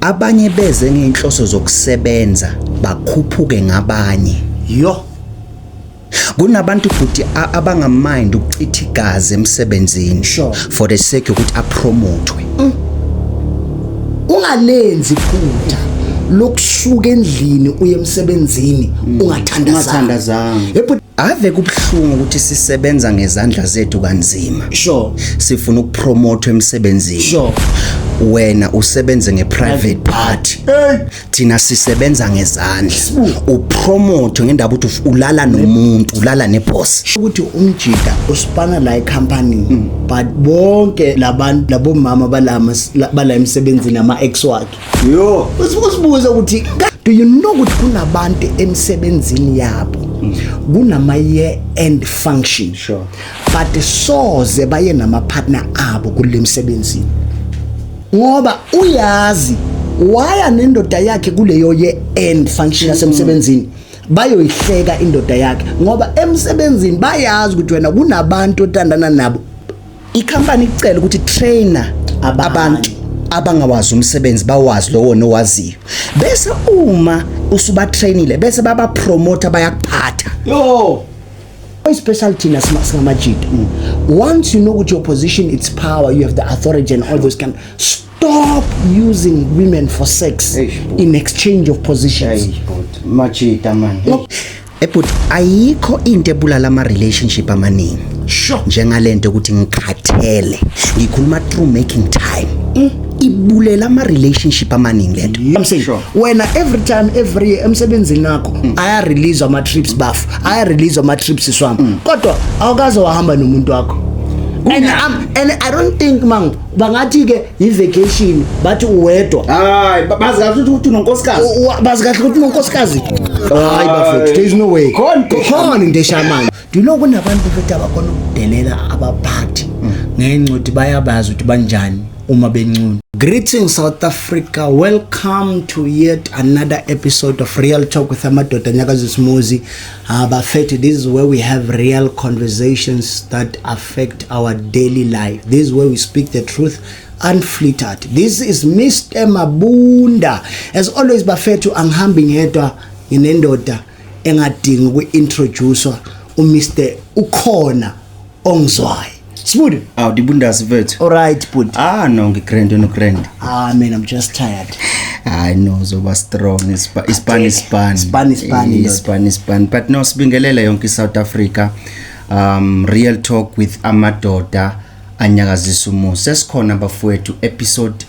Abanye beze ngeenhloso zokusebenza bakhuphuke ngabanye. Yo. Kunabantu futhi abangamind ukuchitha igazi emsebenzini sure. for the sake yokuthi apromothwe. Mm. Ungalenzi phutha lokusuka endlini uye emsebenzini mm. ungathandazanga. Ungathandazanga. Ave kubuhlungu ukuthi sisebenza ngezandla zethu kanzima. Sure. Sifuna ukupromote emsebenzini. Sure. Wena usebenze ngeprivate part. Hey. Thina sisebenza ngezandla. Upromote ngendaba ukuthi ulala nomuntu, ulala neboss. Ukuthi umjika usipana la ecompany hmm. but bonke labantu labomama balama bala emsebenzini ama ex wakhe. yo usibuze ukuthi do you know ukuthi kunabantu emsebenzini yabo kunama year end function sure but soze baye nama partner abo kulemsebenzini ngoba uyazi waya nendoda yakhe kuleyo year end function yasemsebenzini bayoyihleka indoda yakhe ngoba emsebenzini bayazi ukuthi wena kunabantu otandana nabo Ikhampani icela ukuthi trainer abantu abangawazi umsebenzi bawazi lowo nowaziyo bese uma usubatrainile bese babapromota bayakuphatha yo especially thina singamajita mm. once you know ukuthi your position its power you have the authority and all those kind Stop using women for sex Eish, bhuti. in exchange of positions. Hey, but machita man. No. Ebhuti Eh, ayikho into ebulala ama relationship amaningi Sure. njengalento ukuthi ngikhathele ngikhuluma through making time Mm. ibulela ama relationship amaningi lento I'm saying Sure. Mm. wena every time every year emsebenzini nakho aya release ama trips bafu aya release ama trips Mm. swami kodwa awukaze wahamba nomuntu wakho and I'm, and I don't think mang bangathi ke yivacation bathi uwedwa hayi bazi kahle ukuthi unonkosikazi bazi kahle ukuthi unonkosikazi hayi bafethu there is no way khona into eshamana ndilo kunabantu futhi abakhona ukudelela abaphathi ngenxa ukuthi bayabazi ukuthi banjani uma bencuna Greetings South Africa. Welcome to yet another episode of Real Talk with Amadoda Nyakazisimuzi. Ah, bafethu, this is where we have real conversations that affect our daily life. This is where we speak the truth unflittered. This is Mr. Mabunda. As always, bafethu, angihambi ngedwa nginendoda engadingi uku-introducwa uMr ukhona ongizwayo. Smooth. Aw dibundazi vethu. Alright bud. Ah no ngigrand no grand. Ah man I'm just tired. I know zoba strong ispa ispan ispan. Ispan ispan. Ispan ispan. But no sibingelela yonke South Africa. Um real talk with amadoda anyakazisa umusa. Sesikhona bafowethu episode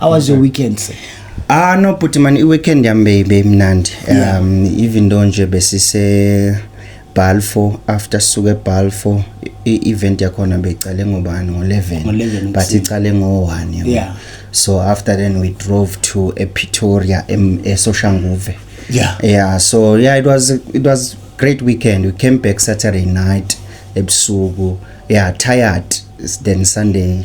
how was your weekend sir Ah no bhuti man iweekend yami bebe mnandi um even though nje besise Balfo after suke Balfo i-event yakhona beyiqale ngobani ngo-11 but iqale ngo-1 yeah. so after then we drove to epretoria esoshanguve yeah. yeah so yeah it was, it was great weekend we came back saturday night ebusuku yeah tired then sunday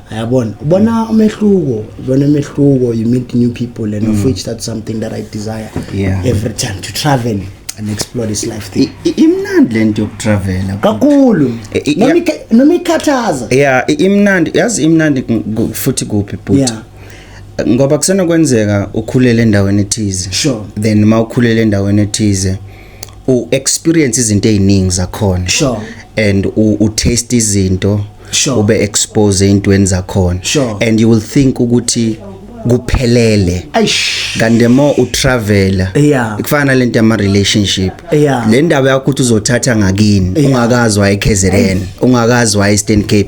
yabona ubona umehluko ubona umehluko you meet new people and of mm. which that's something that i desire yeah. every time to travel and explore this life thing imnandi lento yokutravela kakhulu noma ikhathaza yeah imnandi yazi imnandi futhi kuphi bhuti ngoba kusenokwenzeka ukhulele endaweni ethize sure then uma ukhulele endaweni ethize u experience izinto eziningi zakhona sure and u, u taste izinto sure ube expose ezintweni zakhona sure and you will think ukuthi kuphelele kanti mo utravela yeah. kufana lento yama relationship yeah. le ndaba yakho ukuthi uzothatha ngakini yeah. ungakazwa eKZN ungakazwa eStern Cape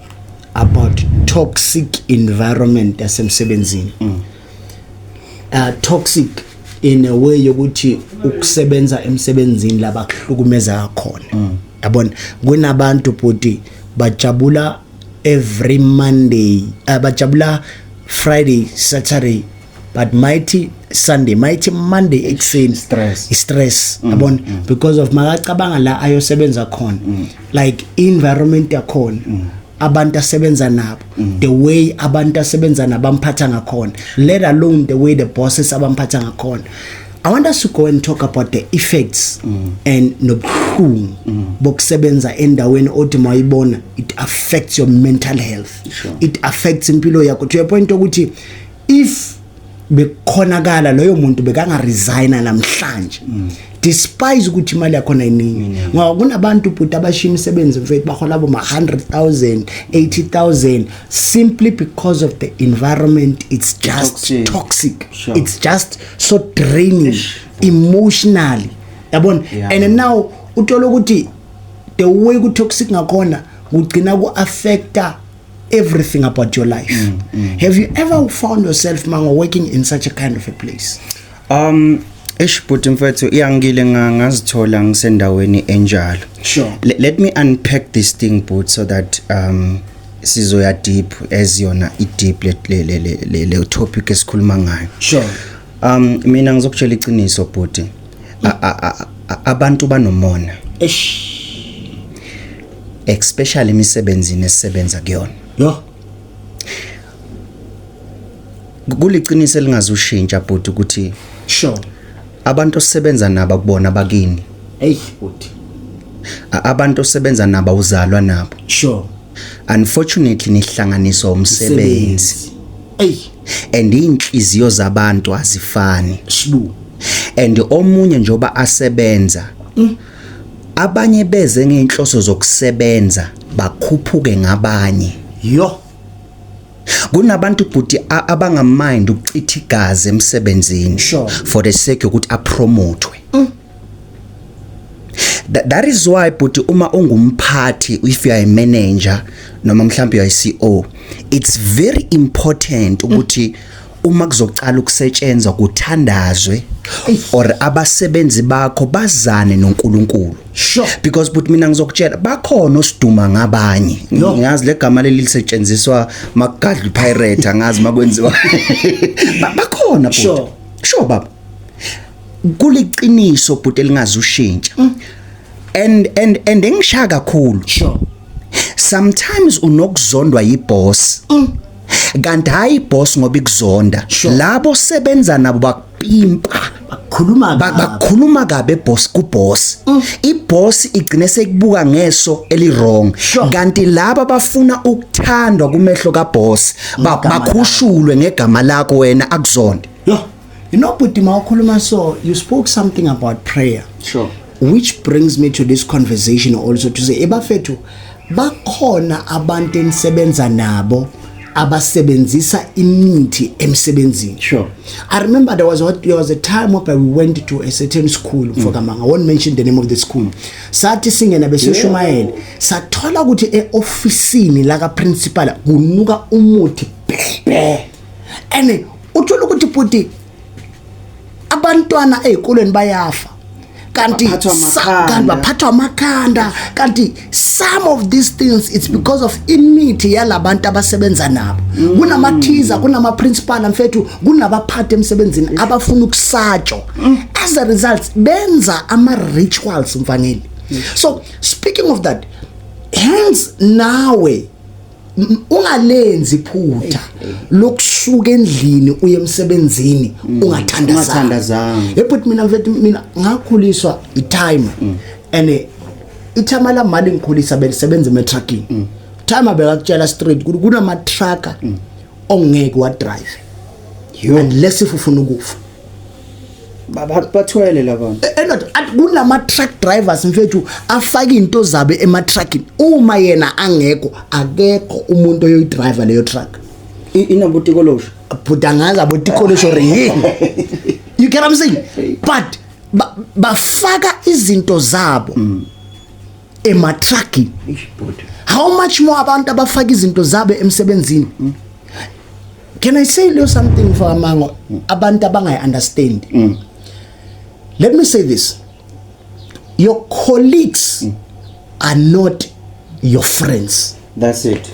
about toxic environment yasemsebenzini mm. uh, toxic in a way yokuthi ukusebenza emsebenzini laba kuhlukumeza khona mm. yabona kunabantu bhuti bajabula every monday uh, bajabula friday saturday but mighty sunday mighty monday ekuseni stress stress mm, yabona mm. because of makacabanga la ayosebenza khona mm. like environment yakhona mm. abantu asebenza nabo mm. the way abantu asebenza nabo amphatha ngakhona let alone the way the bosses abamphatha ngakhona I want us to go and talk about the effects mm. and nobuhlungu mm. bokusebenza endaweni othi mayibona it affects your mental health sure. it affects impilo yakho to a point ukuthi if bekukhonakala loyo muntu bekanga resigna namhlanje mm. despise ukuthi imali yakho nayiningi mm. ngoba kunabantu bhuti abashiya imisebenzi mfethu bahola abo ma 100,000 80,000 simply because of the environment it's just toxic, toxic. Sure. it's just so draining Ish. emotionally yabona yeah. and now uthola ukuthi the way ku toxic ngakhona kugcina ku affecta everything about your life mm, mm, have you ever found yourself mango working in such a kind of a place um eish bhuti mfethu iyangile ngazithola ngisendaweni enjalo sure L let me unpack this thing but so that um sizoya deep as yona i deep le le le le topic esikhuluma ngayo sure um mina ngizokutshela iqiniso bhuti abantu banomona eish especially emisebenzini esisebenza kuyona yo kuliqiniso elingazushintsha bhuti ukuthi sure abantu osebenza nabo kubona bakini hey bhuti abantu osebenza nabo uzalwa nabo sure unfortunately nihlanganiswa umsebenzi hey and inhliziyo zabantu azifani shibu and omunye njoba asebenza mm. Abanye beze ngeenhloso zokusebenza bakhuphuke ngabanye. Yo. Kunabantu bhuti a- abangamind ukuchitha igazi emsebenzini Sure. for the sake yokuthi apromotwe. Tha- That is why bhuti uma ungumphathi if you are a manager noma mhlawumbe you are a CEO it's very important ukuthi uma kuzoqala ukusetshenzwa kuthandazwe or abasebenzi bakho bazane noNkulunkulu sure. because but mina ngizokutshela bakhona osiduma ngabanye no. ngiyazi legama leli lisetshenziswa makugadla pirate angazi makwenziwa bakhona but sure. sure baba kuliqiniso but elingazi ushintsha mm. and and and engishaya kakhulu sure sometimes unokuzondwa yiboss mm. kanti hayi boss ngoba ikuzonda Sure. labo sebenza nabo bakupimpa Khuluma Ba- kabi. bakhuluma kabe boss ku boss Mm. i boss igcine sekubuka ngeso eli wrong Sure. kanti laba bafuna ukuthandwa kumehlo ka boss ba- Ngegama lakho. bakhushulwe ngegama lakho wena akuzonde Yho. You know, Puti Maukuluma, so you spoke something about prayer. Sure. Which brings me to this conversation also to say, Ebafetu, bakhona abantu enisebenza nabo abasebenzisa imithi emsebenzini sure i remember there was a, there was a time where we went to a certain school mm. mfokamanga i won't mention the name of the school sathi singena besishumayela yeah. sathola ukuthi eofisini la ka principal kunuka umuthi bhe and uthola ukuthi bhuti abantwana ezikolweni bayafa kanti kanti baphathwa amakhanda kanti some of these things it's because of imithi yalabantu abasebenza nabo mm. kunamathiza kunama principal mfethu kunabaphathi emsebenzini mm. abafuna ukusatshwa mm. as a result benza ama rituals mfanele so speaking of that hence nawe ungalenzi iphutha lokusuka endlini uye emsebenzini mm. ungathandazanga ebut mina mfethu mina ngakhuliswa itime mm. and eh, ithama la mali ngikhulisa belisebenza emetrucking mm. time abekakutshela straight ukuthi kunama trucker ongeke wa drive unless if ufuna ukufa baba bathwele labantu endoda eh, eh, kunama truck drivers mfethu afaka into zabe ema truckini uma yena angekho akekho umuntu oyoyi driver leyo truck inabotikolosho bhuda ngazi abotikolosho ringi you get what i'm saying but bafaka izinto zabo mm. ematrucking how much more abantu abafaka izinto zabo emsebenzini mm. can i say you something for amango mm. abantu abangayi understand mm. let me say this your colleagues mm. are not your friends that's it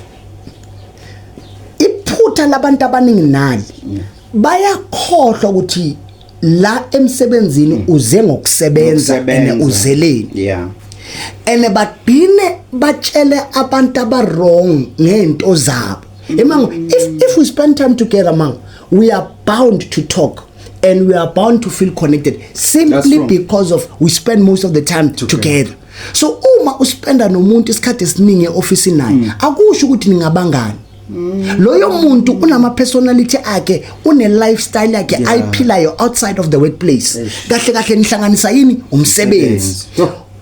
iphutha labantu abaningi nali mm. bayakhohlwa ukuthi la emsebenzini mm. uze ngokusebenza ene uzeleni yeah ene bagcine batshele abantu abarong ngento zabo mm. emango if if we spend time together mango we are bound to talk and we are bound to feel connected simply because of we spend most of the time together, together. so uma uspenda nomuntu isikhathi esiningi eoffice naye mm. akusho ukuthi ningabangani loyo muntu unama personality akhe une lifestyle yakhe yeah. ayiphilayo outside of the workplace kahle kahle nihlanganisa yini umsebenzi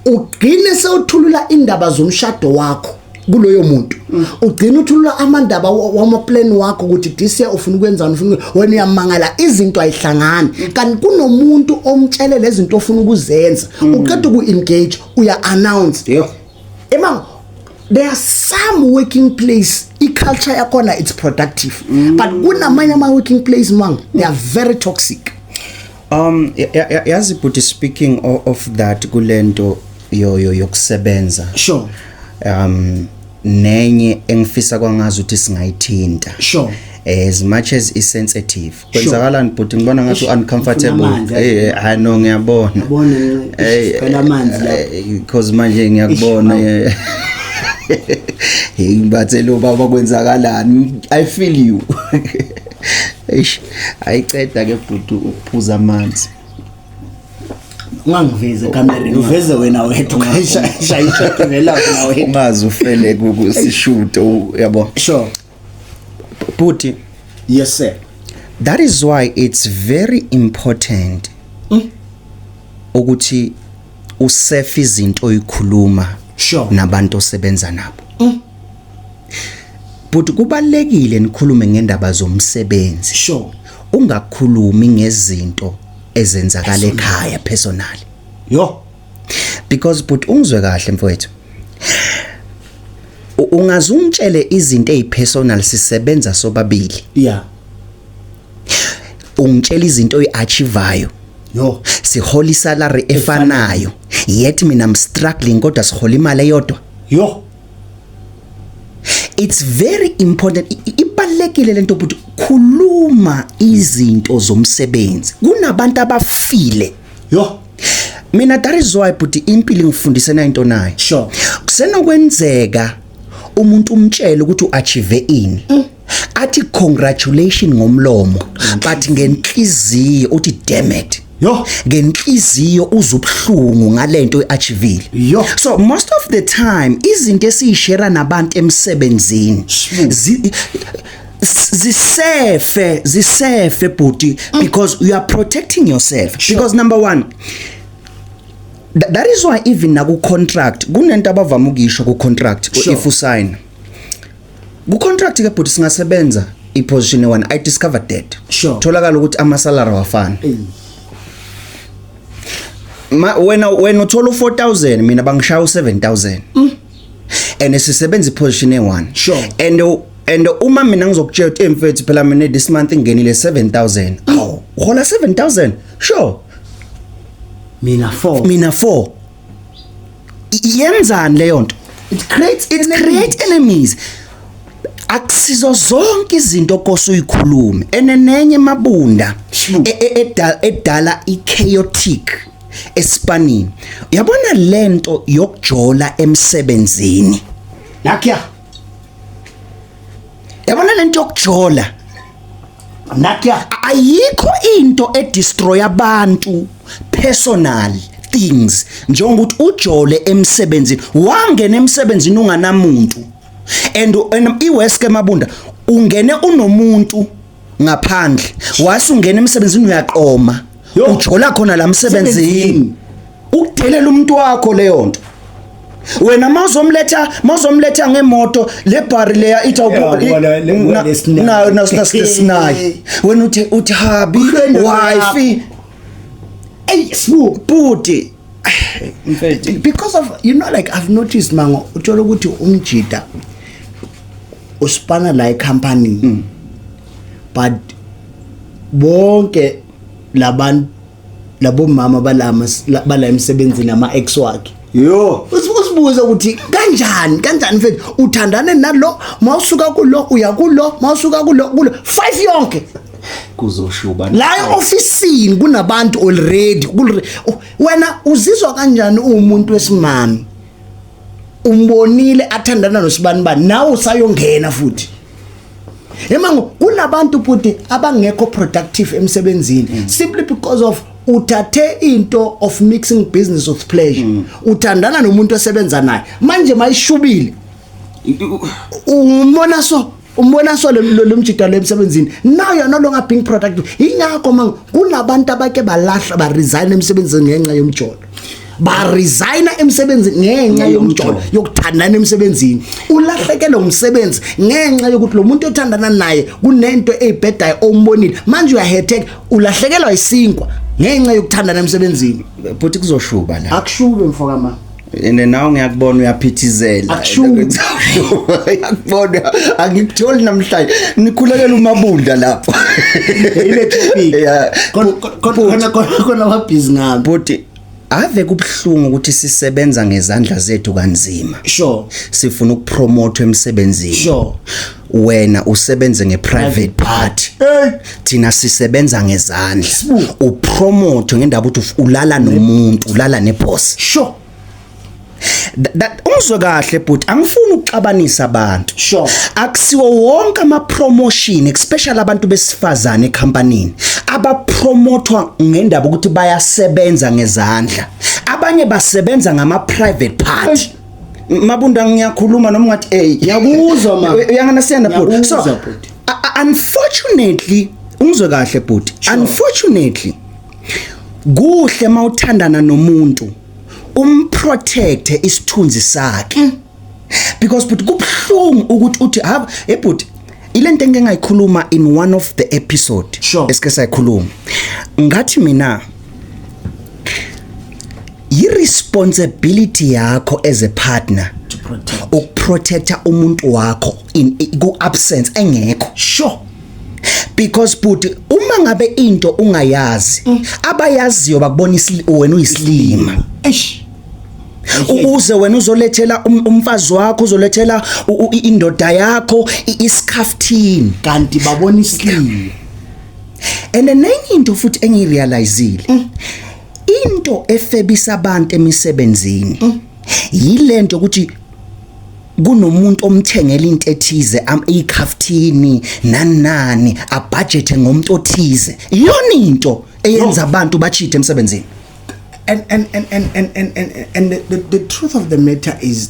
ugcine sewuthulula indaba zomshado wakho kuloyo muntu mm. ugcina uthulula amandaba wama plan wakho ukuthi this year ufuna ukwenzani ufuna wena uyamangala izinto ayihlangani mm. kanti kunomuntu omtshele lezinto ofuna ukuzenza mm. uqeda uku engage uya announce yeah. Emang there are some working place i-culture yakhona it's productive mm. but kunamanye ama-working place mang they are very toxic um yazi bhuti speaking of, of that kule nto yoyo yokusebenza sure um nenye engifisa kwangazi ukuthi singayithinta sure as much as is sensitive kwenzakalani bhuti ngibona ngathi uncomfortable hey hayi no ngiyabona yabona ngicela amanzi la because manje ngiyakubona hey bathe lo baba kwenzakalani i feel you eish ayiceda ke bhuti ukuphuza amanzi ungangiveze kamereni uveze wena wethu ngayishayisha ngela wena wethu ungazi ufele kusishuto yabo sure Bhuti. Yes sir. That is why it's very important mm. ukuthi usefe izinto oyikhuluma sure. nabantu osebenza nabo. Mm. Bhuti kubalekile nikhulume ngendaba zomsebenzi. Sure. Ungakhulumi ngezinto ezenzakala ekhaya personally. Yo. because but ungizwe kahle mfowethu ungaze ungitshele izinto ezipersonal sisebenza sobabili yeah ungitshela izinto oyiachivayo yo sihola isalary efanayo yet mina i'm struggling kodwa sihola imali eyodwa yo it's very important ibalekile lento but khuluma izinto zomsebenzi kunabantu abafile yo mina that is why bhuti impilo ngifundise na into nayo sure kusenokwenzeka umuntu umtshele ukuthi uachieve ini mm. athi congratulation ngomlomo mm. but ngenhliziyo uthi damn it yo ngenhliziyo uzubuhlungu ngalento eachievile yo so most of the time izinto esiyishare nabantu emsebenzini zisefe zisefe bhuti mm. because you are protecting yourself sure. because number 1 Th that is why even naku contract kunento abavama ukuyisho ku contract sure. if usign ku contract ke bhuti singasebenza i position one i discovered that sure. tholakala ukuthi ama salary wafana hey. ma wena wena uthola u4000 mina bangishaya u7000 mm. and sisebenza iposition e1 sure and and uma mina ngizokutshela ukuthi emfethu phela mina this month ingenile 7000 aw hola 7000 sure mina 4 mina 4 yenzani leyo nto it creates it creates enemies akusizo zonke izinto kose uyikhulume enenenye mabunda e, e, edala edala i chaotic esipanini yabona lento yokujola emsebenzini nakya yabona lento yokujola nakya ayikho into edestroy abantu personal things njengokuthi ujole emsebenzini wangena emsebenzini unganamuntu and iweske mabunda ungene unomuntu ngaphandle wase ungena emsebenzini uyaqoma ujola khona la msebenzini ukudelela umuntu wakho leyo nto wena mawuzomletha mawuzomletha ngemoto le bar leya itha nayo nasinaye wena uthi uthi habi wife ey sbu bhuti because of you know like i've noticed mango uthola ukuthi umjida usipana la ecompany mm. but bonke labantu labo mama balama bala emsebenzini ama ex wakhe yo usibuza ukuthi kanjani kanjani mfethu uthandane nalo mawusuka kulo uya kulo mawusuka kulo kulo five yonke kuzoshuba la ofisini kunabantu already wena uzizwa kanjani umuntu wesimami umbonile athandana nosibani ba nawe usayongena futhi emango kunabantu futhi abangekho productive emsebenzini mm. simply because of uthathe into of mixing business with pleasure mm. uthandana nomuntu osebenza naye manje mayishubile umbona so umbona so lomjida lo emsebenzini now you're no longer being productive ingakho manje kunabantu abake balahla ba resign emsebenzini ngenxa yomjolo ba resigna emsebenzini ngenxa yomjolo yokuthandana emsebenzini ulahlekelwe umsebenzi ngenxa yokuthi lo muntu othandana naye kunento eyibhedayo ombonile manje uyahetek ulahlekelwa isinkwa ngenxa yokuthandana emsebenzini bhuti kuzoshuba la akushuke mfokama ene nawe ngiyakubona uyaphithizela yakubona angikutholi namhlanje nikhulekela umabunda lapho ile topic khona khona wabhizi ngami bhuti ave kubhlungu ukuthi sisebenza ngezandla zethu kanzima sure sifuna ukupromote emsebenzini sure wena usebenze ngeprivate part thina sisebenza ngezandla upromote ngendaba ukuthi ulala nomuntu ulala neboss sure umzwe kahle bhuti angifuni ukuxabanisa abantu sure akusiwo wonke ama promotion especially abantu besifazane ecompanyini abapromotwa ngendaba ukuthi bayasebenza ngezandla abanye basebenza ngama private part Mabunda ngiyakhuluma noma ungathi hey ngiyakuzwa ma uyanganasiyana bhuti so unfortunately ungizwe kahle bhuti unfortunately kuhle mawuthandana nomuntu umprotecte isithunzi sakhe mm. because bhuti kubhlungu ukuthi uthi ha hey bhuti ilento engeke ngayikhuluma in one of the episode sure. esike sayikhuluma ngathi mina yiresponsibility yakho as a partner ukuprotecta umuntu wakho in ku absence engekho sure because but uma ngabe into ungayazi mm. abayaziyo bakubona wena uyisilima eish ukuze wena uzolethela um, umfazi wakho uzolethela indoda yakho isikhaftini kanti babona isilima and enye into futhi engirealizile mm. into efebisa abantu emisebenzini mm. yilento ukuthi kunomuntu omthengela into ethize ikhaftini nani nani abudgete ngomuntu othize iyona into eyenza abantu bachithe emsebenzini and and and and and and, and the, the, the truth of the matter is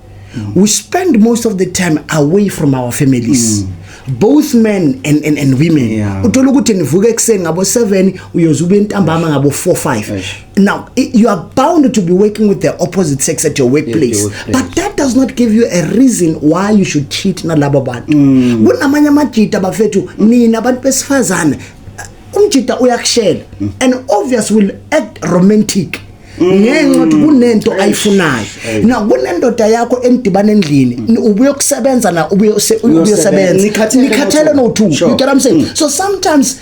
mm. we spend most of the time away from our families mm. both men and, and, and women yeah. uthola ukuthi nivuka ekuseni ngabo 7 uyoze ube ntambama ngabo 4 5 now you are bound to be working with the opposite sex at your workplace yes, your workplace. but that does not give you a reason why you should cheat nalabo bantu mm. kunamanye amajita bafethu nina abantu besifazane umjita uyakushela mm. and obvious will act romantic ngenxa ukuthi kunento ayifunayo na kunendoda yakho enidibana endlini mm. ubuye ukusebenza na ubuye uyosebenza nikhathele no two you get what i'm saying mm. so sometimes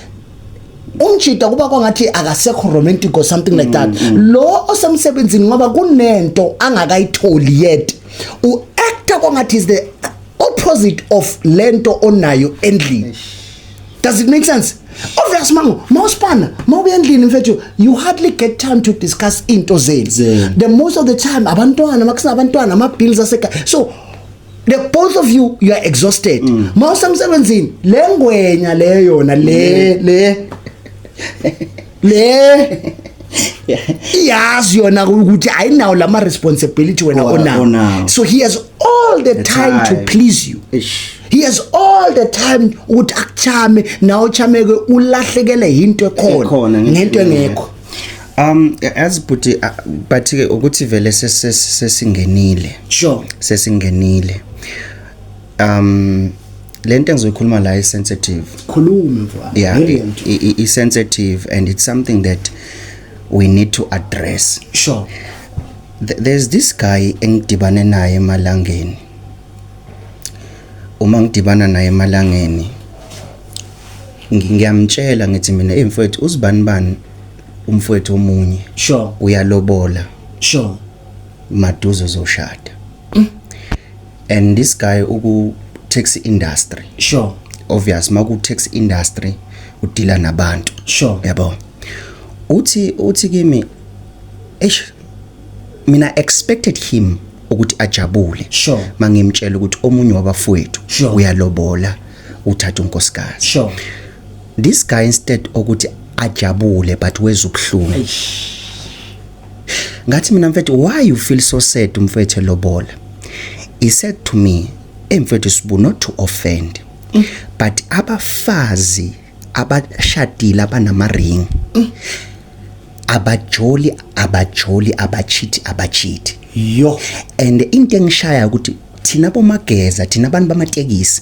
umjida kuba kwangathi akasekho romantic or something like that mm, lo osemsebenzini ngoba kunento angakayitholi yet u actor kwangathi is the opposite of lento onayo endlini Does it make sense? Obvious mango, mawuspana, mawubuya endlini mfethu, you hardly get time to discuss into zenu. Zenu. The most of the time abantwana, makusina abantwana, ama bills aseka. So the both of you you are exhausted. Mawusemsebenzini, lengwenya leyo yona le le. le iyazi yona ukuthi ayinawo lama responsibility wena onawo so he has all the, the time, time to please you Ish. he has all the time ukuthi akuchame nawe uchameke ulahlekele into ekhona ngento engekho um as bhuti uh, but ke ukuthi vele sesingenile sure sesingenile um lento engizoyikhuluma la is sensitive khuluma mfana yeah i sensitive and it's something that we need to address sure Th there's this guy engidibane naye emalangeni uma ngidibana naye emalangeni ngiyamtshela ngithi mina hey mfowethu uzibani bani umfowethu omunye sure uyalobola sure maduze uzoshada and this guy uku taxi industry sure obvious maku taxi industry udila nabantu sure yabo uthi uthi kimi eish mina expected him ukuthi ajabule sure mangimtshela ukuthi omunye wabafowethu sure. uyalobola uthatha unkosikazi sure this guy instead okuthi ajabule but wezubhlungu ngathi mina mfethu why you feel so sad mfethu lobola he said to me hey mfethu sibu not to offend mm. but abafazi abashadile abanama ring mm. abajoli abajoli abachithi abachithi yo and into engishaya ukuthi thina bomageza thina abantu bamatekisi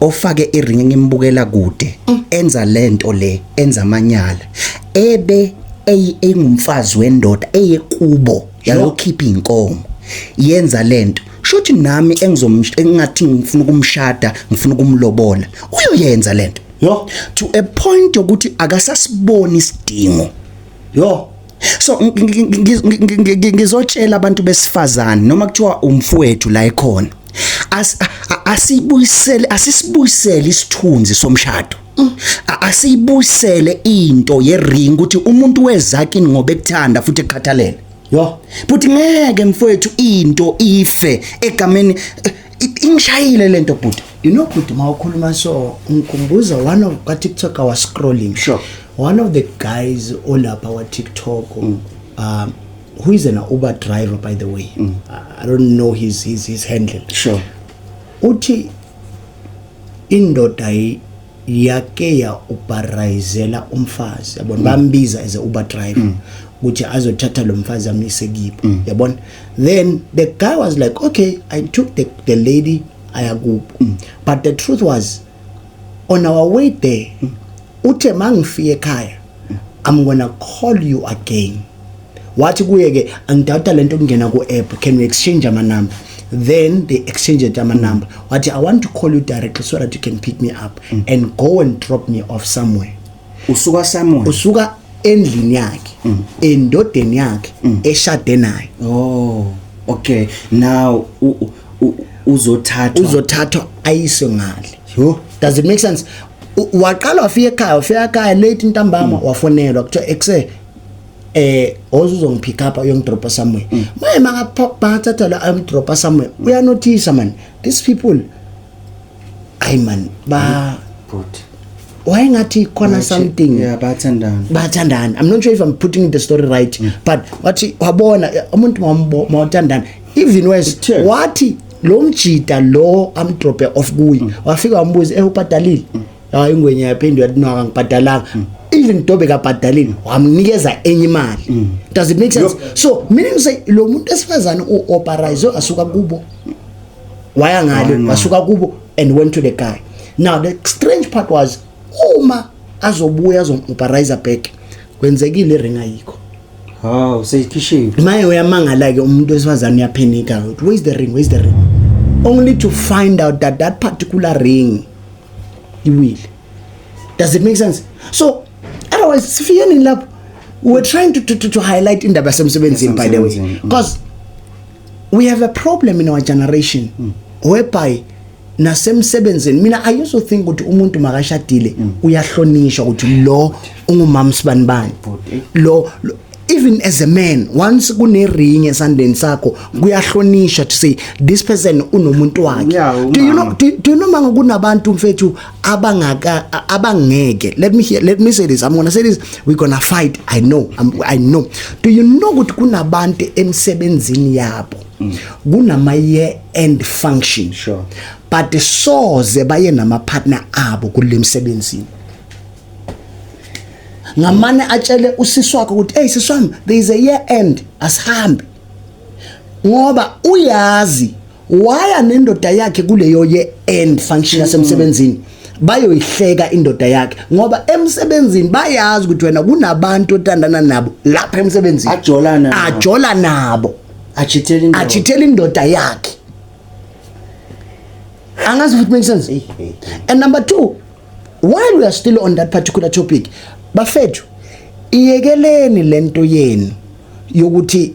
ofake iring ngimbukela kude enza lento le enza amanyala ebe ey- engumfazi wendoda eye kubo yayokhipha inkomo yenza lento shothi nami engizomsh- engathi ngifuna ukumshada ngifuna ukumlobola uyoyenza lento Yo. to a point yokuthi akasasiboni isidingo Yo. so ngizotshela abantu besifazane noma kuthiwa umfowethu la ekhona asibuyisele asisibuyisele isithunzi somshado asiyibuyisele into yering ukuthi umuntu wezakini ngoba ekuthanda futhi ekukhathalele yo futhi ngeke mfowethu into ife egameni ingishayile lento bhuti you know bhuti mawukhuluma so ngikhumbuza one of ka TikTok I was scrolling sure one of the guys olapha wa TikTok mm. um who is an Uber driver by the way mm. I don't know his his his handle sure uthi indoda yake ya ubarayizela umfazi yabona mm. bambiza as a Uber driver mm. ukuthi azothatha lo mfazi amyise kibo mm. yabona then the guy was like okay i took the, the lady ayakubo mm. but the truth was on our way there uthe mangifika ekhaya i'm gonna call you again wathi kuye ke angidawuta lento kungena ku app can we exchange ama number then they exchanged ama number wathi i want to call you directly so that you can pick me up mm. and go and drop me off somewhere usuka somewhere usuka endlini yakhe mm. endodeni yakhe mm. eshade naye oh okay now uzothathwa uzothathwa ayiswe ngale yho does it make sense waqala wafika ekhaya wafika ekhaya late intambama mm. wafonelwa kuthiwa ekuse eh ozuzongipick up uyongidropa somewhere mm. maye makaphathatha la amdropa somewhere uyanothisa man these people hayi man ba bhuti wayengathi khona Wathi- something yeah bathandana bathandana i'm not sure if i'm putting the story right Mm. but wathi wabona eh, umuntu mawambo- mawathandana even worse It turns. wathi lo mjita lo amdrope off kuye Mm. wafika wambuza eh ubhadalile hayi ingwenya yaphinde yathi no akangibhadalanga Mm. even dobe kabhadalile wamnikeza enye imali does it make sense so meaning to say lo muntu esifazane u-operize asuka kubo waya ngale wasuka kubo and went to the guy now the strange part was uma azobuya azomubharayiza back kwenzekile ring ayikho haw useyikhishiwe maye uyamangala ke umuntu wesifazane uyaphenika ukuthi where is the ring where is the ring only to find out that that particular ring iwile does it make sense so otherwise sifikeni lapho we're trying to, to, to, to highlight indaba yasemsebenzini by the way because we have a problem in our generation mm. whereby nasemsebenzini mina i used to think ukuthi umuntu makashadile mm. uyahlonishwa ukuthi lo ungumama sibani bani lo even as a man once kune ring esandeni sakho kuyahlonishwa to say this person unomuntu wakhe do you know do, do you know manga kunabantu mfethu abangaka abangeke let me hear let me say this i'm going to say this we're going to fight i know I'm, i know do you know ukuthi kunabantu emsebenzini yabo mm. kunama year end function sure but soze baye nama partner abo kulemsebenzini ngamane atshele usisi wakhe ukuthi hey sisi wami there is a year end asihambe ngoba uyazi waya nendoda yakhe kuleyo ye end function yasemsebenzini mm. bayoyihleka indoda yakhe ngoba emsebenzini bayazi ukuthi wena kunabantu otandana nabo lapha emsebenzini ajola nabo ajola nabo achithela indoda achithela indoda yakhe angazi if it makes sense hey, hey. and number 2 while we are still on that particular topic bafethu iyekeleni lento yenu yokuthi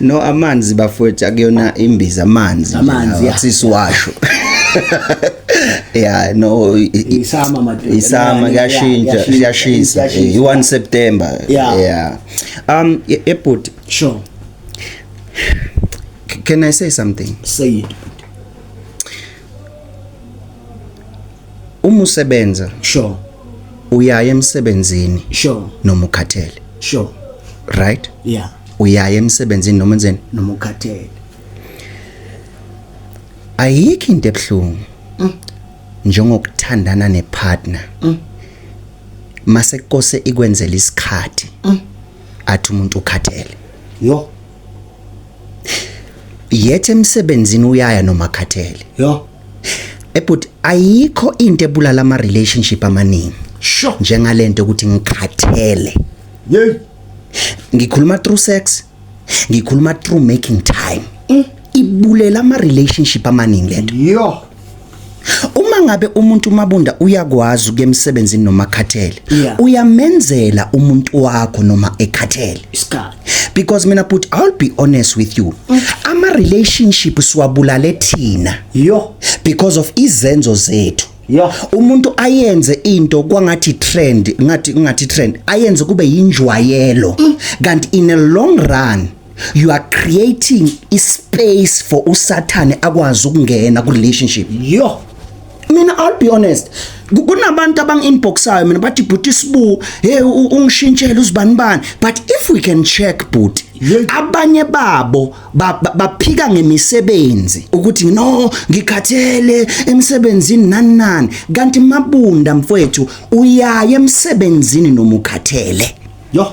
no amanzi bafowethu akuyona imbiza amanzi amanzi asisiwasho yeah no isama madoda isama kuyashintsha kuyashisa i1 September yeah um ebut sure can i say something say it uma usebenza sure uyaya emsebenzini sure noma ukhathele sure right yeah uyaya emsebenzini noma enzeni noma ukhathele ayikho into ebuhlungu mm. njengokuthandana nepartner mm. mase kose ikwenzela isikhathi mm. athi umuntu ukhathele yo yethe emsebenzini uyaya noma khathele yo ebut ayikho into ebulala ama relationship amaningi sho njengalento ukuthi ngikhathele yey ngikhuluma through sex ngikhuluma through making time mm. ibulela ama relationship amaningi lento yo uma ngabe umuntu umabunda uyakwazi ukuya emsebenzini noma akhathele Yeah. uyamenzela umuntu wakho noma ekhathele isikhathi because mina but I'll be honest with you ama relationship siwabulale thina yo because of izenzo zethu Yeah. umuntu ayenze into kwangathi trend ngathi ngathi trend ayenze kube yinjwayelo kanti in a long run you are creating a space for usathane akwazi ukungena ku relationship yo mina i'll be honest kunabantu abangi-inboxayo mina bathi bhuti sibu hey ungishintshele uzibani bani but if we can check bhuti abanye babo baphika ngemisebenzi ukuthi no ngikhathele emsebenzini nani nani kanti mabunda mfowethu uyaye emsebenzini nomukhathele yo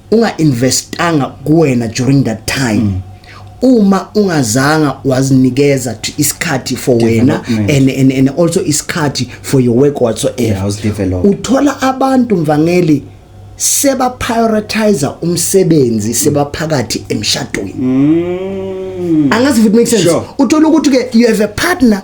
unga investanga kuwena during that time mm. uma ungazanga wazinikeza to isikhathi for wena and, and, and also isikhathi for your work whatsoever yeah, uthola abantu mvangeli seba prioritize umsebenzi sebaphakathi emshadweni mm. angazi if it makes sense sure. uthola ukuthi ke you have a partner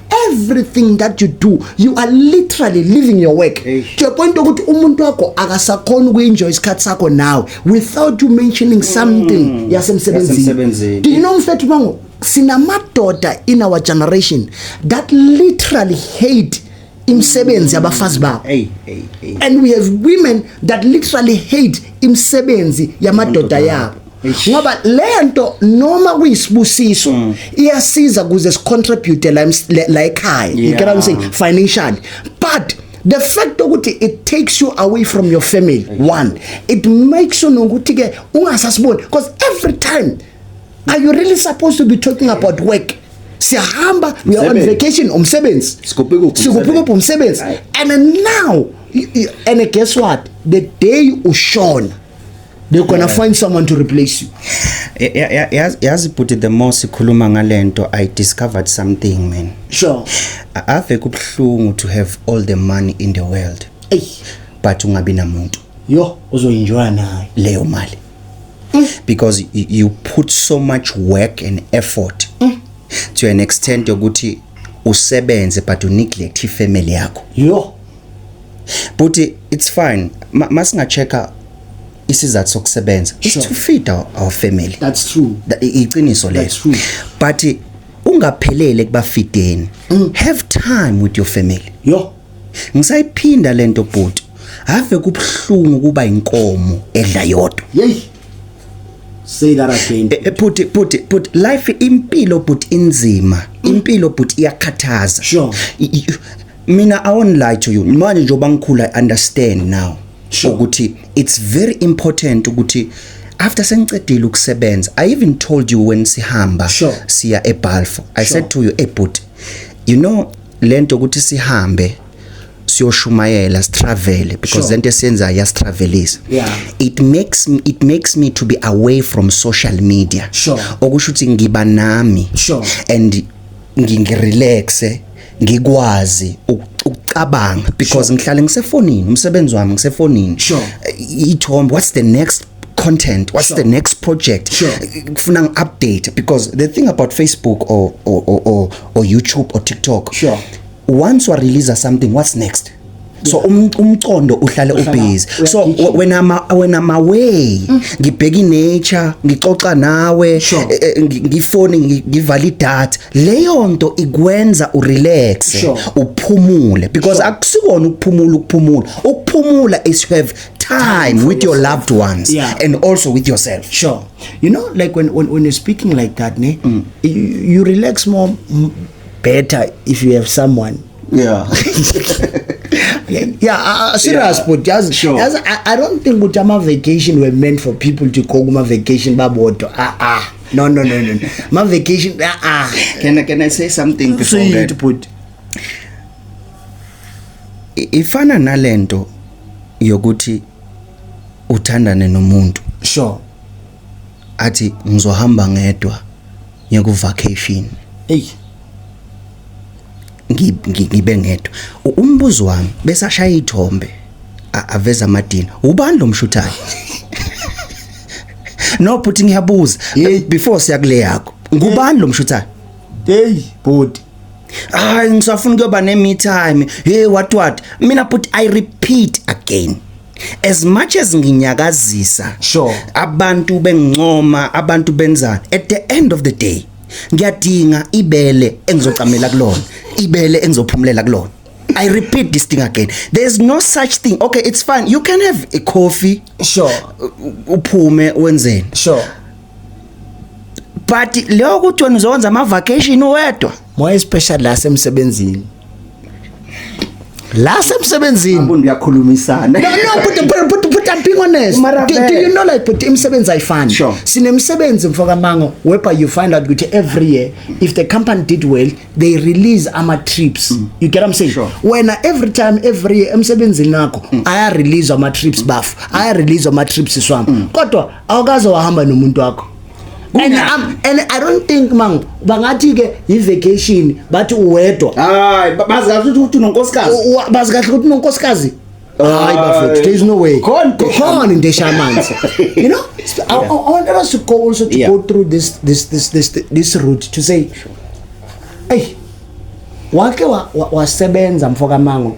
everything that you do you are literally living your work to a point ukuthi umuntu wakho akasakhona ukuenjoy isikhathi sakho nawe without you mentioning something mm. yasemsebenzini do you know mfethu bango sinamadoda in our generation that literally hate imisebenzi yabafazi babo and we have women that literally hate imisebenzi yamadoda yabo ngoba lento noma kuyisibusiso mm. iyasiza kuze sicontribute la la ekhaya you get what i'm saying financially but the fact ukuthi it takes you away from your family exactly. one it makes you nokuthi ke ungasasiboni because every time are you really supposed to be talking about work siyahamba we are on vacation umsebenzi sikuphi umsebenzi and now and guess what the day ushona they're gonna yeah. find someone to replace you yazi bhuti the more sikhuluma ngalento i discovered something man sure ave kubuhlungu to have all the money in the world Ey. but ungabi namuntu yo uzoyinjoya nayo leyo mali mm. because you put so much work and effort mm. to an extent yokuthi usebenze but uneglect ifamily yakho yo Bhuti it's fine. Masinga checker isizathu sokusebenza. It's to feed our, our family. That's true. Iqiniso leyo. That's true. But ungaphelele kubafideni. Mm. Have time with your family. Yo. Ngisayiphinda lento bhuti. Ave kubhlungu kuba inkomo edla yodwa. Yey. Say that again. Eh, eh, put it, put it, put life impilo but inzima. Mm. Impilo but iyakhathaza. Sure. mina i won't lie to you manje njengoba ngikhula i understand now sure. ukuthi it's very important ukuthi after sengicedile ukusebenza i even told you when sihamba sure. siya ebalfo i sure. said to you hey but you know lento ukuthi sihambe siyoshumayela sitravel because sure. lento esenza yasitravelisa yeah. it makes me, it makes me to be away from social media sure. okusho ukuthi ngiba nami sure. and ngingirelaxe ngikwazi ukucabanga because ngihlale ngisefonini umsebenzi wami ngisefonini ithombe what's the next content what's sure. the next project sure. kufuna ngi-update because the thing about facebook or, or, or, or, or youtube or tiktok sure. once wareleasa something what's next so um, umcondo uhlale ubhizi so wena ma wena ma way mm. ngibheka inature ngixoxa nawe eh, eh, ngifone ngivala idata leyo nto ikwenza urelax uphumule because akusikona ukuphumula ukuphumula ukuphumula is have time with your loved ones yeah. and also with yourself sure you know like when when, when you're speaking like that ne mm. you, you relax more better if you have someone yeah yeah uh, uh serious yeah. but yazi sure. yazi I, i don't think ukuthi ama vacation were meant for people to go kuma vacation babodwa ah ah no no no no ma vacation ah ah can i can i say something before so that but ifana nalento yokuthi uthandane nomuntu sure athi ngizohamba ngedwa ngiye ku vacation hey ngibe ngedwa umbuzo wami bese ashaya ithombe aveza amadini ubani lo mshuthayo no bhuti ngiyabuza before siya kule yakho ngubani lo mshuthayo hey bhuti hayi ngisafuna kuyoba ne me time hey what what mina bhuti i repeat again as much as nginyakazisa sure abantu bengincoma abantu benza at the end of the day ngiyadinga ibele engizocamela kulona ibele engizophumulela kulona I repeat this thing again. There's no such thing. Okay, it's fine. You can have a coffee. Sure. Uphume wenzeni? Sure. but leyo ukuthi wena uzokwenza ama vacation uwedwa more especially la semsebenzini la semsebenzini umuntu uyakhulumisana no no but but but, but I'm being honest do, do you know like but imisebenzi ayifani sure. sinemisebenzi mfoka mango whereby you find out ukuthi every year if the company did well they release ama trips mm. you get what I'm saying sure. when every time every year emsebenzini nakho mm. aya release ama trips bafu mm. aya release ama trips swami mm. kodwa awukaze wahamba nomuntu wakho and, um, and i don't think mang bangathi ke yi-vacation bathi uwedwa hayi bazi kahle ukuthi unonkosikazi bazi kahle ukuthi unonkosikazi hayi bafethu there is no way khona into esha amanzi you know I, I, I wanted us to go also to yeah. go through this this this this this route to say hey wake wasebenza wa, wa mfokamango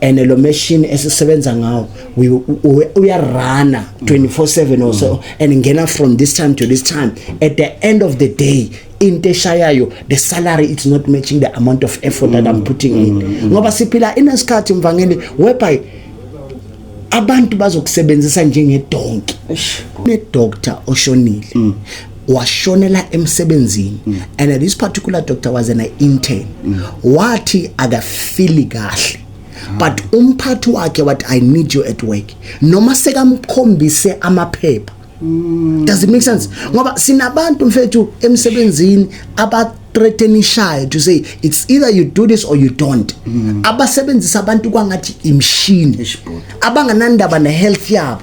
and lo machine esisebenza ngawo uyarana 24/7 also mm. and ngena from this time to this time at the end of the day into eshayayo the salary it's not matching the amount of effort mm. that i'm mm. putting mm. in ngoba siphila inesikhathi mvangeli whereby abantu bazokusebenzisa njengedonki ne doctor oshonile mm. washonela emsebenzini mm. and this particular doctor was an intern mm. wathi akafili kahle mm. but umphathi wakhe wathi i need you at work noma sekamkhombise amaphepha mm. does it make sense ngoba sinabantu mfethu emsebenzini aba threatenishayo to say it's either you do this or you don't mm. abasebenzisa abantu kwangathi imshini abanganandaba ne health yabo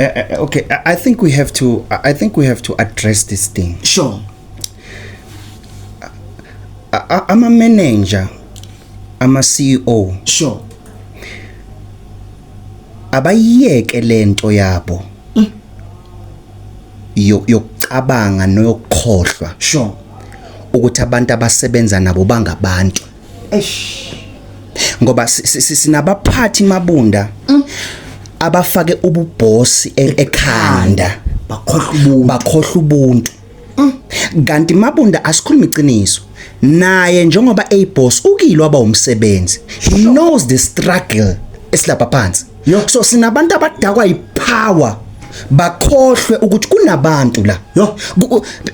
Uh, uh, okay, I think we have to. I think we have to address this thing. Sure. I, I'm a manager. I'm a CEO. Sure. Abayiyeke lento yabo. Mm. Yokucabanga noyokukhohlwa. Sure. Ukuthi abantu abasebenza nabo bangabantu. eish ngoba sinabaphathi mabunda mm. abafake ububhosi e-, ekhanda bakhohlwa ubuntu bakhohlwa ubuntu mm. kanti mabunda asikhulumi iqiniso naye njengoba eyiboss ukilo aba umsebenzi he knows the struggle esilapha phansi Yo so sinabantu abadakwa yipower bakhohlwe ukuthi kunabantu la yo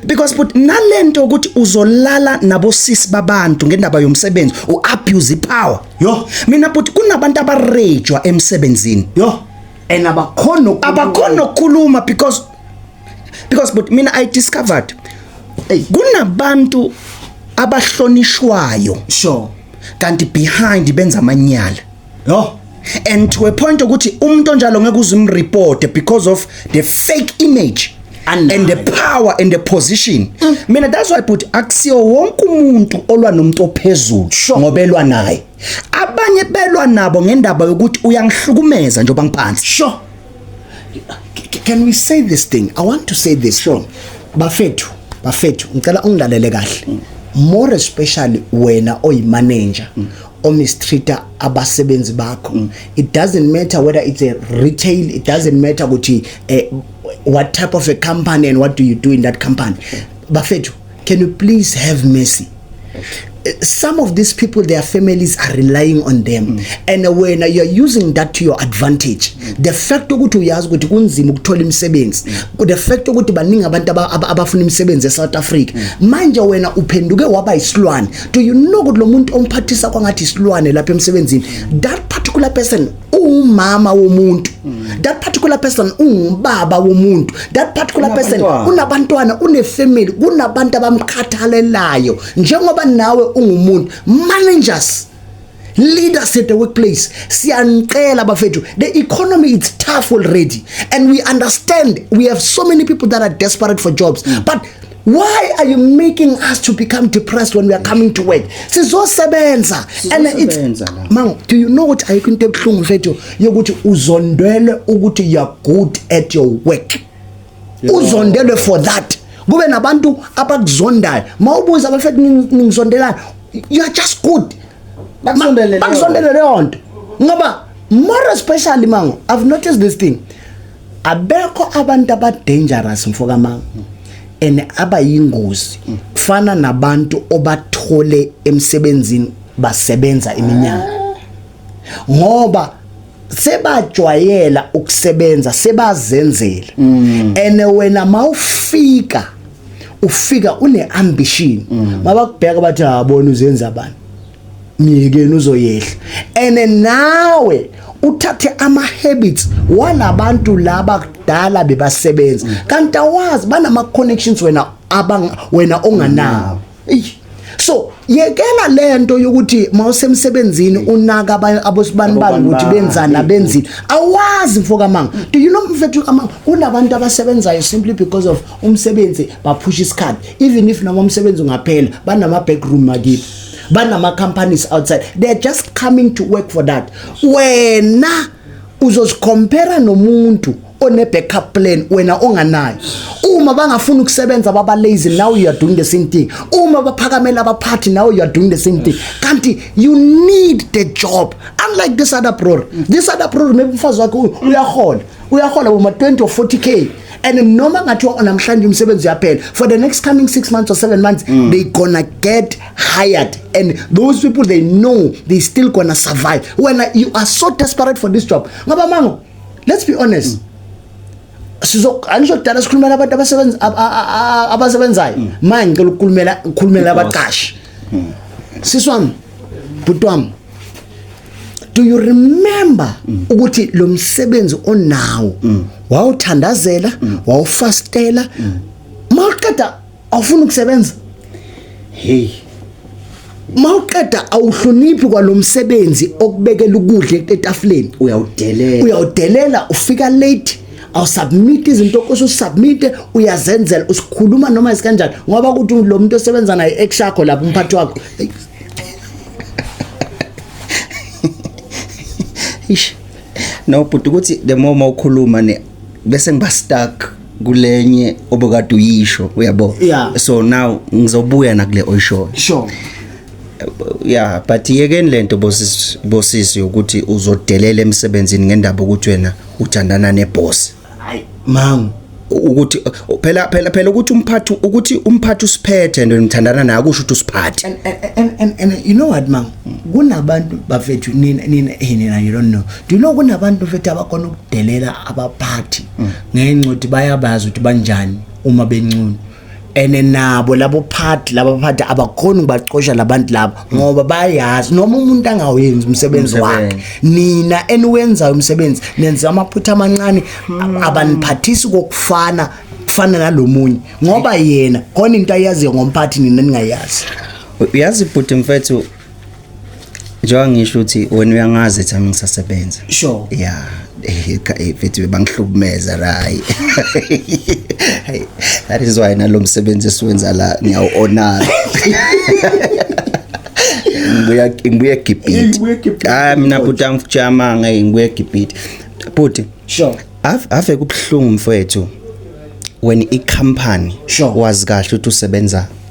because but nalento ukuthi uzolala nabosisi babantu ngendaba yomsebenzi u abuse power yo mina but kunabantu abarejwa emsebenzini yo and abakhona abakhona ukukhuluma because because but mina i discovered hey kunabantu abahlonishwayo sure kanti behind benza amanyala Yho. And to a point ukuthi umuntu onjalo ngeke uzimreport because of the fake image and the power and the position mm. mina that's why but akusiyo wonke umuntu olwa nomuntu ophezulu ngoba elwa naye abanye belwa nabo ngendaba yokuthi uyangihlukumeza njengoba ngiphansi sure can we say this thing i want to say this sure bafethu bafethu ngicela ungilalele kahle mm. more especially wena oyimanager mm. omistreater abasebenzi bakho mm. it doesn't matter whether it's a retail it doesn't matter ukuthi eh, what type of a company and what do you do in that company bafethu can you please have mercy eh, some of these people their families are relying on them mm. and when you are using that to your advantage mm. the fact ukuthi uyazi ukuthi kunzima ukuthola imisebenzi mm. the fact ukuthi baningi abantu abafuna imisebenzi eSouth Africa mm. manje wena uphenduke waba isilwane do you know ukuthi lo muntu omphathisa kwangathi isilwane lapha emsebenzini that particular person umama womuntu that particular person ungubaba womuntu that particular person unabantwana unefamily kunabantu abamkhathalelayo njengoba nawe ungumuntu managers leaders at the workplace siyanicela bafethu the economy is tough already and we understand we have so many people that are desperate for jobs mm. but Why are you making us to become depressed when we are coming to work? Sizosebenza. And it's Mang, do you know what I can take from mfethu yokuthi uzondwele ukuthi you are good at your work. Uzondwele for that. Kube nabantu abakuzondayo. Mawubuza abafethu ningizondelana. You are just good. Bakuzondele leyo nto. Ngoba more especially mango, I've noticed this thing. abekho abantu aba dangerous mfoka mama and abayingozi kufana nabantu obathole emsebenzini basebenza iminyaka ngoba sebajwayela ukusebenza sebazenzela mm. and wena mawufika ufika uneambition mm. mabakubheka bathi habona uzenza abantu myekeni uzoyehla ene nawe uthathe ama habits walabantu laba kudala bebasebenza kanti awazi banama connections wena abang wena onganawo so yekela lento yokuthi mawusemsebenzini unaka abosibani bani ukuthi benzana benzini awazi mfo kamanga do you know mfethu kamanga kunabantu abasebenzayo simply because of umsebenzi baphusha isikhathi even if noma umsebenzi ungaphela banama backroom makithi banama companies outside they are just coming to work for that wena uzozicompare nomuntu one backup plan wena onganayo uma bangafuna ukusebenza baba lazy now you are doing the same thing uma baphakamela abaphathi now you are doing the same thing kanti you need the job unlike this other brother this other brother maybe umfazi wakhe uyahola uyahola boma 20 or 40 k and noma ngathi namhlanje umsebenzi uyaphela for the next coming 6 months or 7 months mm. they gonna get hired and those people they know they still gonna survive when uh, you are so desperate for this job ngoba mango let's be honest mm. sizo angisho kudala sikhulumela abantu abasebenza abasebenzayo mm. manje ngicela ukukhulumela ukukhulumela abaqashi mm. siswami bhuti wami do you remember mm. ukuthi lo msebenzi onawo mm. wawuthandazela mm. wawufastela mm. mawuqeda awufuna ukusebenza hey mawuqeda awuhloniphi kwalomsebenzi okubekela ukudla etafuleni uyawudelela uyawudelela ufika late awusubmit izinto okusho usubmite uyazenzela usikhuluma noma isikanjani ngoba ukuthi lo muntu osebenza naye ex yakho lapha umphathi wakho ish no bhuti ukuthi the more mawukhuluma ne bese ngiba stuck kulenye obukade uyisho uyabo yeah. so now ngizobuya nakule oyishoyo sure yeah but yekeni lento bosisi bosisi ukuthi uzodelela emsebenzini ngendaba ukuthi wena uthandana neboss hayi mangu ukuthi phela phela phela ukuthi umphathi ukuthi umphathi usiphethe nto nithandana naye kusho ukuthi usiphathe and, and, and, and you know what mang kunabantu bafethu nina nina hey nina you don't know do you know kunabantu mfethu abakhona ukudelela abaphathi mm. ngenxa ukuthi bayabazi ukuthi banjani uma bencunu ene nabo labo phathi laba phathi abakhona ukubacosha labantu labo ngoba bayazi noma umuntu angawenzi umsebenzi wakhe nina eniwenzayo umsebenzi nenza amaphutha amancane hmm. abaniphathisi kokufana kufana nalomunye ngoba yena khona into ayaziyo ngomphathi nina ningayazi uyazi bhuti mfethu njengoba ngisho ukuthi wena uyangazi ethi ami ngisasebenza sure ya eh, eh, mfethu bangihlukumeza rayi that is why nalo msebenzi esiwenza la ngiyawu-honara ngibuya ngibuya egibhiti hayi mina bhuti angifujama ngeke ngibuya egibhiti bhuti sure ave kubuhlungu mfethu when i-company sure. wazi kahle ukuthi usebenza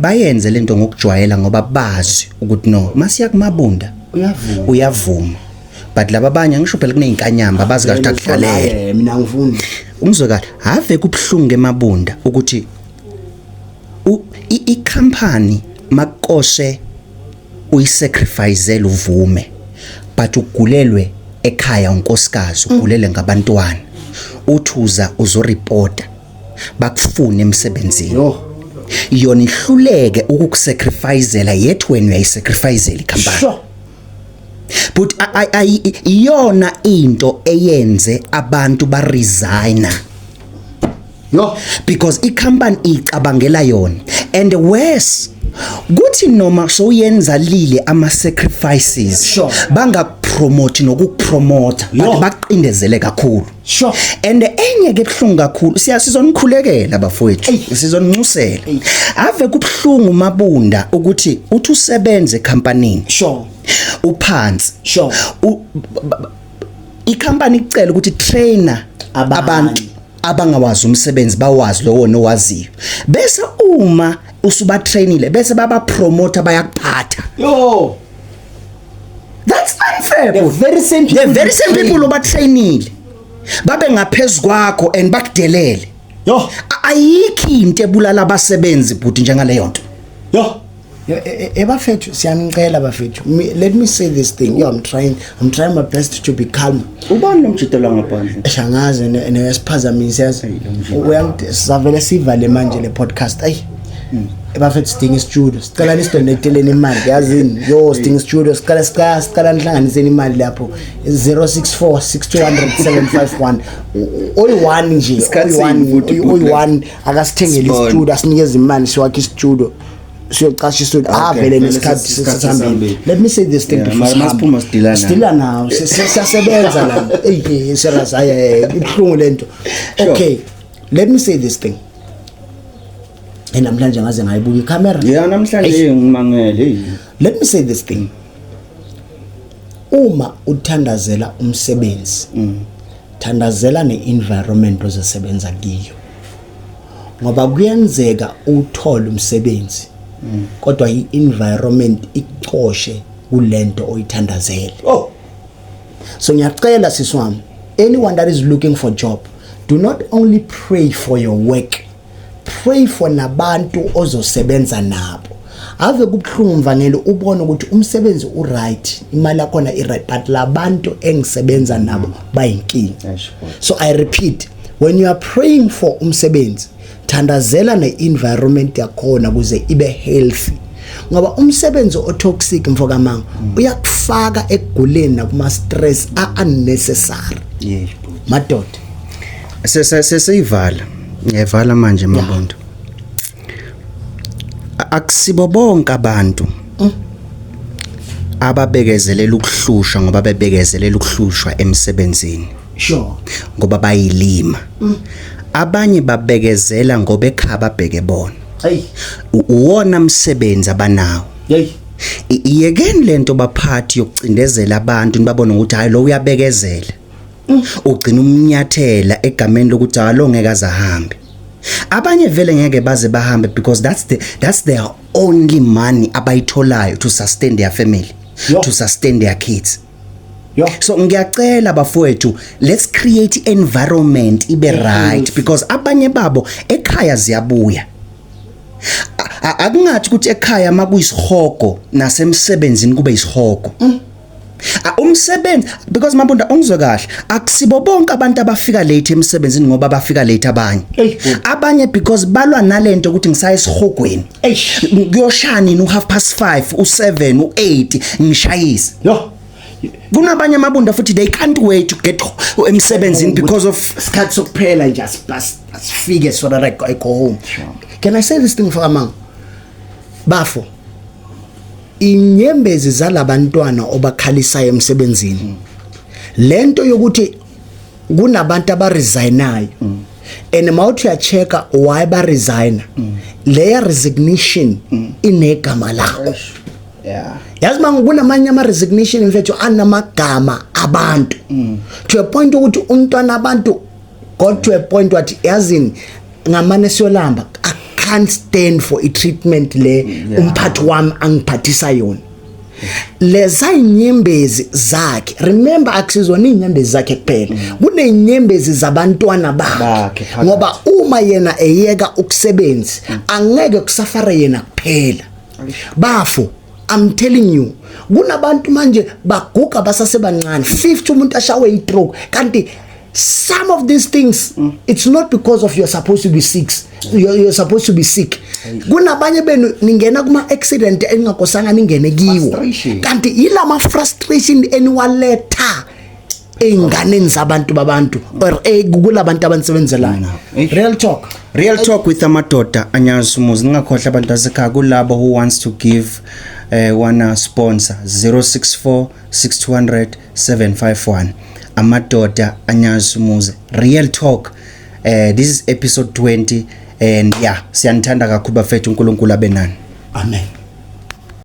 bayenze lento ngokujwayela ngoba bazi ukuthi no masiya kumabunda uyavuma uyavuma but laba abanye ngisho phela kunezinkanyamba abazi kahle akudlalele mina ngifuni umzwe kahle have kubhlungu emabunda ukuthi i company makoshe uyisacrifice uvume but ugulelwe ekhaya unkosikazi ugulele ngabantwana uthuza uzoreporta bakufune emsebenzini oh. yona ihluleke ukukusacrificela yet wena uyayisacrificela ikhampani sure. but iyona into eyenze abantu ba resigner yo because i company icabangela yona and worse kuthi noma soyenza lile ama sacrifices sure. bangakupromote nokukupromote baqindezele kakhulu Sure. And enye ke ebhlungu kakhulu siya sizonikhulekela bafowethu sizonincusela. Ave kubhlungu mabunda ukuthi uthi usebenze ecompanyini. Sure. Uphansi. Sure. Icompany icela ukuthi trainer abantu abangawazi umsebenzi bawazi lowo nowaziyo. Bese uma usubatrainile bese babapromote bayakuphatha. Yo. that's unfair the very same people, the very same people obatrainile babe ngaphezulu kwakho and bakudelele yo ayikho into ebulala abasebenzi bhuti njengaleyo nto yo ebafethu e, e, siyanicela bafethu let me say this thing yo i'm trying i'm trying my best to be calm ubani lomjito la ngaphandle eshangaze neyasiphazamise yazi uyangidesavele sivale manje le podcast ayi Hmm. ebafethu sidinga istudio sicela nisidonateleni imali yazini yo sidinga istudio sicela sicela sicela nihlanganiseni imali lapho 0646200751 oyi-one nje oyi-one akasithengele istudio asinikeze imali siwakhe istudio siyocasha istudio ah vele nesikhathi sesihambile let me say this thing before sidila nawo siyasebenza la eyi serious hayi ibuhlungu lento okay let me say this thing namhlanje ngaze ngayibuka icamera yeah namhlanje ngimangele let me say this thing uma uthandazela umsebenzi mm. thandazela ne-environment ozosebenza kiyo ngoba kuyenzeka uthole umsebenzi mm. kodwa i-environment icoshe kulento oyithandazele oh so ngiyacela siswami anyone that is looking for job Do not only pray for your work, pray for nabantu ozosebenza nabo. Ave kubuhlungu mvangelo ubone ukuthi umsebenzi u right, imali yakho na i right but labantu engisebenza nabo bayinkinga. So I repeat, when you are praying for umsebenzi thandazela ne-environment yakhona kuze ibe healthy ngoba umsebenzi otoxic mfokamanga mm. uyakufaka ekuguleni nakuma stress a unnecessary yebo madoda sese sesiyivala ngiyavala manje mabonto akusibo bonke abantu mm. ababekezelela ukuhlushwa ngoba bebekezelela ukuhlushwa emsebenzini sure ngoba bayilima mm. abanye babekezela ngoba ekhaba bheke bona hey uwona msebenzi abanawo hey iyekeni lento baphathi yokucindezela abantu nibabone ukuthi hayi lo uyabekezela mm. ugcina umnyathela egameni lokuthi alo ngeke azahambe abanye vele ngeke baze bahambe because that's the that's their only money abayitholayo to sustain their family Yo. to sustain their kids Yo. So ngiyacela bafowethu let's create environment ibe yes. right because abanye babo ekhaya ziyabuya. Akungathi ukuthi ekhaya makuyisihogo nasemsebenzini kube isihogo. Mm. Umsebenzi because mabunda ongizwe kahle akusibo bonke abantu abafika late emsebenzini ngoba bafika late abanye. Abanye because balwa nalento ukuthi ngisaye esihogweni. Ey, kuyoshaya nini u half past 5, u7, u8 ngishayise. Yo. Kunabanye amabunda futhi they can't wait to get emsebenzini oh, because of isikhathi sokuphela nje asifike so that I go, I go home. Can I say this thing for amang? Bafo. Inyembezi zalabantwana obakhalisayo emsebenzini. Lento yokuthi kunabantu abaresignayo mm. and mawuthi uyacheka why ba resign mm. leya resignation mm. inegama lawo yeah yazi manje kunamanye ama resignation mfethu anamagama abantu mm. to a point ukuthi umntwana abantu got to a point wathi yazini ngamane siyolamba i can't stand for i treatment le mm, umphathi wami angiphathisa yona leza inyembezi zakhe remember akusizona inyembezi zakhe kuphela mm. kunenyembezi zabantwana bakhe ngoba uma yena eyeka ukusebenzi mm. angeke kusafara yena kuphela bafo I'm telling you kunabantu manje baguga basasebancane 50 umuntu ashawe itroke kanti some of these things mm. it's not because of you're supposed to be sick you're, you're supposed to be sick kunabanye benu ningena kuma accident eningakosanga ningene kiwo kanti yilama frustration eniwaletha einganeni zabantu babantu or eh, kulabantu abanisebenzelayo mm. real talk real talk with amadoda anyazi umuzi ningakhohle abantu basekhaya kulabo who wants to give uh, eh, one sponsor 064 6200 751 amadoda anyazi umuzi real talk eh this is episode 20 and yeah siyanithanda kakhulu bafethu uNkulunkulu abe nani amen